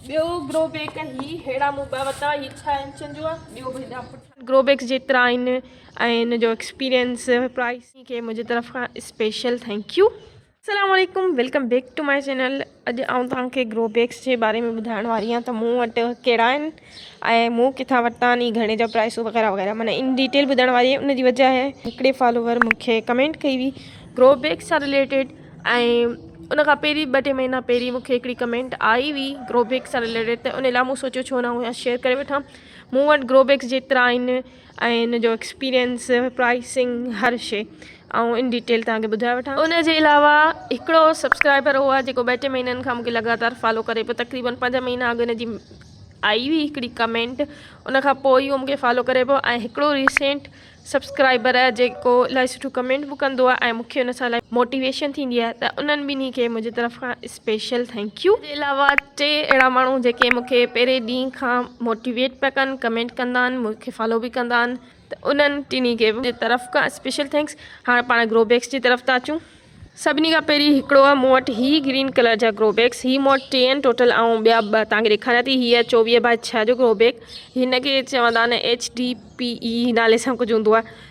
ٻيو grow bag هي ههڙا مون ٻه وتا هي ڇهه انچن جو آهي ٻيو به هيڏا پٺ گرو بيڪس جيترا آهن ۽ ان جو ايڪسپيرينس پرائس کي منهنجي طرف کان اسپيشل ٿينڪ يو السلام عليڪم welcome back to my channel اڄ آئون توهان کي گرو بيڪس جي باري ۾ ٻڌائڻ واري آهيان ته مون وٽ ڪهڙا آهن ۽ مون ڪٿان ورتا آھن گھڻي جا پرائسون وغيره وغيره معنيٰ ان ڊيٽيل ٻڌڻ واري ان جي وجه آھي ھڪڙي فالوور مون کي ڪمينٽ ڪئي ھئي گرو بيگس سان رليٽيڊ ۽ ان کان پهرين ٻه ٽي مهينا پهرين مون کي ھڪڙي ڪمينٽ آئي ھئي گرو بيگس سان رليٽيڊ ته ان لاء مون سوچيو ڇو نه اھو ھيئنر شيئر ڪري وٺان مون وٽ گرو بيگس جيترا آھن ۽ ان جو ايڪسپيرينس پرائسنگ هر شي آئون ان ڊيٽيل تهان کي ٻڌائي وٺان ان جي علاوه هڪڙو سبسڪرائبر هو جيڪو ٻه ٽي مهينن کان مونکي لڳاتار فالو ڪري پيو تقريبن پنج مهينا اڳ ان جي آئي هئي هڪڙي ڪمينٽ ان کان پوء اهو مونکي فالو ڪري پيو ۽ هڪڙو ريسينٽ سبسڪرائبر جيڪو الاهي سٺو ڪمينٽ به ڪندو آهي ۽ مونکي ان سان الاهي موٽيويشن ٿيندي آهي ته انهن ٻنهي کي منهنجي طرف کان اسپيشل ٿينڪ يو. تنهن کان علاوه ٽي اهڙا ماڻهو جيڪي مون کي پهرين ڏينهن کان موٽيويٽ پيا ڪن ڪمينٽ ڪندا آهن مون کي فالو به ڪندا آهن ته انهن ٽنهي کي به طرف کان اسپيشل ٿينڪس. هاڻ پاڻ گرو بيگس جي طرف ٿا اچون. سڀني کان پهرين هڪڙو آهي مون وٽ هي گرين ڪلر جا گرو بيگس هي مون وٽ ٽي آهن ٽوٽل آئون ٻيا ٻه توهان کي ڏيکاريان ٿي هي آهي چوويهه بائي ڇهه جو گرو بيگ هن کي چوندا آهن ايڇ ڊي پي اي نالي سان ڪجهه هوندو آهي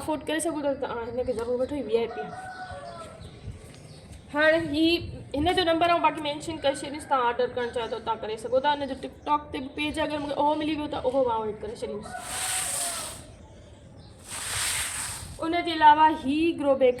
افورڊ ڪري سگهو ٿا ته هن کي ضرور وٺو هي وي آء پي هاڻي هي هن جو نمبر آئون باقي مينشن ڪري ڇڏيس تان آرڊر ڪرڻ چاهيو ته تان ڪري سگهو ٿا هن جو ٽڪ ٽاڪ تي به پيج اگر مونکي اهو ملي ويو ته اهو به آئون هيڊ ڪري ڇڏيس ان جي علاوه هي گرو بيگ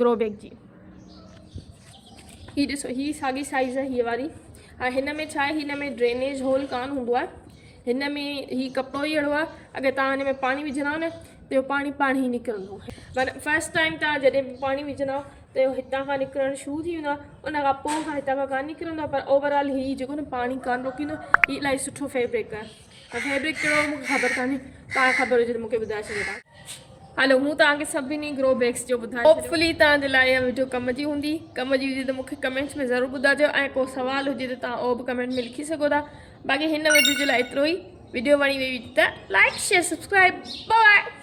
گرو بيگ جي هي ڏسو هي ساڳي سائيز آهي هي واري ها هن ۾ ڇا هن ۾ ڊرينيج هول ڪان هوندو آهي هن ۾ هي ڪپڙو ئي اهڙو آهي اگر تان هن ۾ پاڻي وجهندا نه ته اهو پاڻي پاڻ هي نڪرندو مانا فرسٽ ٽائم تان جڏهن به پاڻي وجهندا ته اهو هتان کان نڪرڻ شروع ٿي ويندو ان کان پوء هتان کان ڪان نڪرندو پر اوورآل هي جيڪو نه پاڻي ڪان روڪيندو هي الاهي سٺو فيبرڪ آهي پر فيبرڪ ڪهڙو هو مون کي خبر ڪانهي توهان کي خبر هجي ته مون کي ٻڌائي ڇڏيو تان. هلو مون توهان کي سڀني گرو بيگس جو ٻڌائي ڇڏيو. هوپ فلي توهان جي لاء اها وڊيو ڪم جي هوندي. ڪم جي هجي ته مون کي ڪمينٽس ۾ ضرور ٻڌائجو ۽ ڪو سوال هجي ته توهان اهو به ڪمينٽ ۾ لکي سگهو ٿا. باقي هن وڊيو جي لاء ايترو ئي. وڊيو وڻي وئي هجي ته like share subscribe. Bye by.